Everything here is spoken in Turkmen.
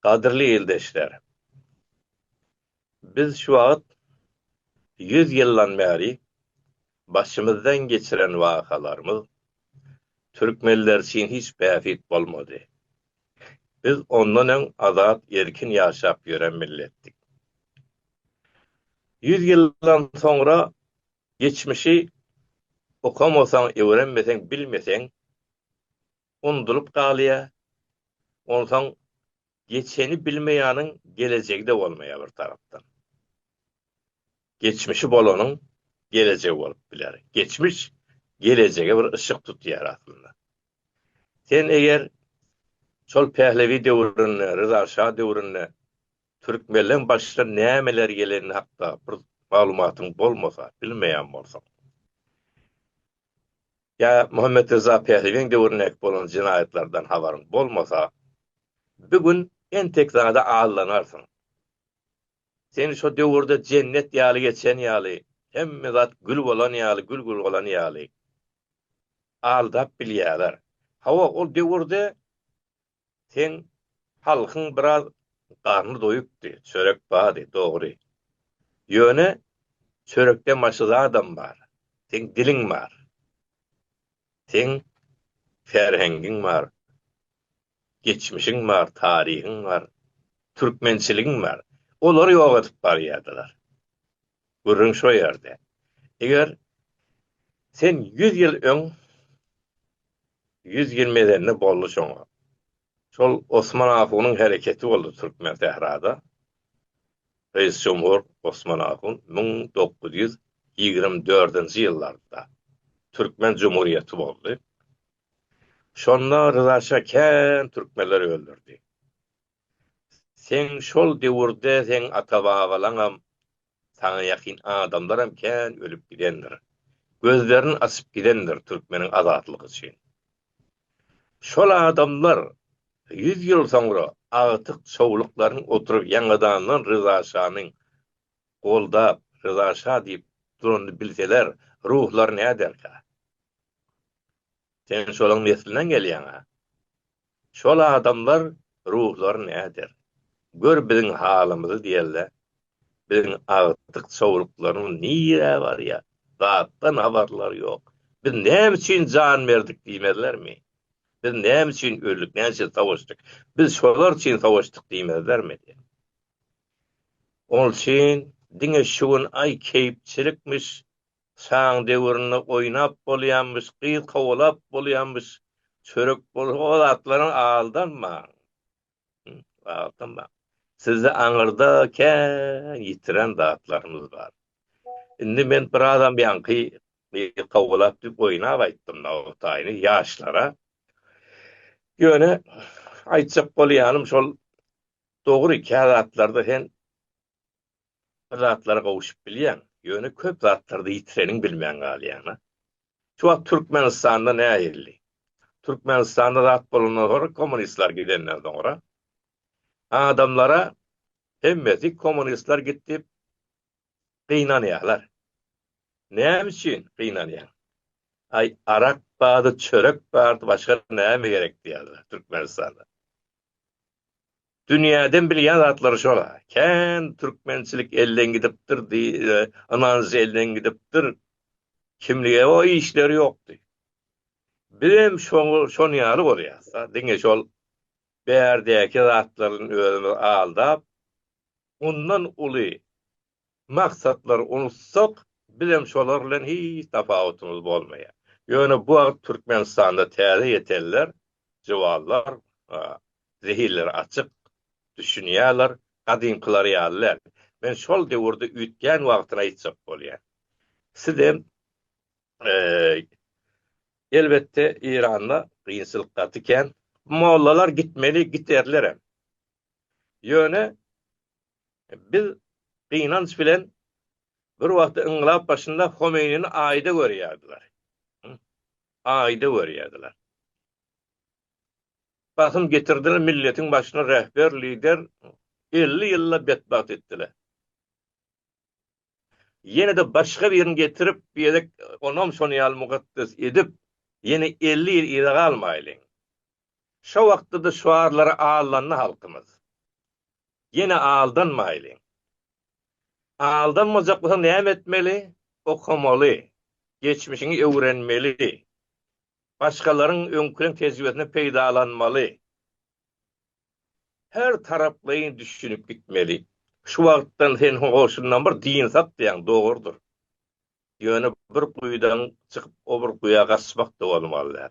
Gadyrly ildeşler! Biz şu wagt ýüz ýyldan bäri başymyzdan geçiren wakalarymyz türkmenler üçin hiç bähbit bolmady. Biz ondan öň azat, erkin ýaşap ýören milletdik. Ýüz ýyldan soňra geçmişi okamasaň, öwrenmeseň, bilmeseň, undulyp galýa, onsoň geçeni bilmeýäniň gelejegi-de bolmaýa bir tarapdan. Geçmişi bolanyň gelejegi bolup biler. Geçmiş gelejege bir yşyk tutýar aslynda. Sen eger şol Pählewi döwründe, Ryza şa döwründe türkmenleň başyna nämeler geleni hakda bir maglumatyň bolmasa, bilmeýän bolsaň. ýa Muhammet Ryza Pähiwiň döwründäki bolan jenaýatlardan habaryň bolmasa, bir gün entek zada aldanarsyň. Sen şo döwürde jennet ýaly geçen ýaly, hemme zat gül bolan ýaly, gül gurgalan ýaly aldap bilýärler. Hawa, ol döwürde Seň halkyň biraz garny doýupdy, çörek bardy, dogry. Ýöne çörekden başga zadam bar. Seň diliň bar. Seň ferhengiň bar. Geçmişiň bar, taryhyň bar. Türkmençiligiň bar. Olary ýok edip barýardylar. Gürrüň şo ýerde. Eger sen ýüz ýyl öň ýüz ýyl mezende boldy şoňa. Şol Osman ahunyň hereketi boldy türkmen sährada. Reýis Jumhur Osman ahun müň dokuz ýüz ýigrimi dördünji ýyllarda türkmen jumhuriýeti boldy. Şonda Ryza şa kän türkmenleri öldürdi. Seň şol döwürde seň ata-babalaňam, saňa ýakyn adamlaram kän ölüp gidendir, gözlerini açyp gidendir türkmeniň azatlygy üçin. Şol adamlar ýüz ýyl soňra agtyk çowluklaryň oturyp ýaňadandan Ryza şanyň goldap, Ryza şa diýip duranyny bilseler, ruhlary näderka? Sen şolaň neslinden gelýäň-ä. Şol adamlar ruhlar näder? Gör biziň halymyzy diýerler. Biziň agtyk çowluklarymyz nirä barýar? Zatdan habarlary ýok. Biz näme üçin jan berdik diýmezlermi? Biz näme üçin öldik, näme üçin savaşdyk? Biz şolar üçin savaşdyk diýmezlermi? Ol üçin diňe şu gün aý keýpçilikmiş, Şaň döwründe oýnap bolýamyş, gyz kowalap bolýamyş, çörek bolsa o zatlaryň aldanmaň. Aldanmaň. Sizde aňyrda kän ýitiren zatlarymyz bar. Indi men birazam ýaňky gyz kowalap diýip oýnap aýtdym nogtaýyny ýaşlara. Ýöne aýtjak bolýanym şol dogry kä zatlarda sen Bir zatlara gowşup bilýäň, ýöne köp zatlarda ýitireniň bilmän galýaň-a. Şu wagt Türkmenistanda nähilli? Türkmenistanda zat bolandan soňra kommunistler gidenden soňra adamlara hemmesi kommunistler gitdi diýip gynanýarlar. Näme üçin gynanýaň? Aý, arak bardy, çörek bardy, başga näme gerek diýýärler Türkmenistanda. Dünýäden bilýän zatlary şol-a. Kän türkmençilik elden gidipdir, ynanç elden gidipdir. Kimlige o işleri ýokdy. Bizem şoň ýaly bolýas-da, diňe şol bärdäki zatlardan özümizi aldap, mundan uly maksatlary unutsak, bizem şolar bilen hiç tapawutymyz bolmaýar. Ýöne bu wagt Türkmenistanda täze ýetenler, jywallar zehinleri açyk, düşünýärler, gadymkylar ýaly däl. Men şol döwürde üýtgän wagtyny aýtjak bolýan. Sizem Elbetde Eýranda kynçylyk gaty kän. Mollalar gitmeli, giterlerem. Ýöne Biz gynanç bilen bir wagtda yngylap başynda Homeýnini aýda görýärdiler. Aýda görýärdiler. Basym getirdiler, milletiň başyna rehber, lider, elli ýylla betbagt etdiler. ýene-de başga birini getirip, bu gezek onam şonuň ýaly mukaddes edip, ýene elli ýyl yza galmaýlyň. Şo wagtda-da şuarlara aldandy halkymyz. Ýene aldanmaýlyň. Aldanmajak bolsaň näme etmeli? Okamaly, geçmişiňi öwrenmeli, başgalaryň öňküleň tejribesinden peýdalanmaly. Her taraplaýyn düşünip gitmeli. Şu wagtdan sen hoşundan bir dynsak diýen dogrudyr. Ýöne bir guýudan çykyp o bir guýa gaçmak-da bolmaz däl.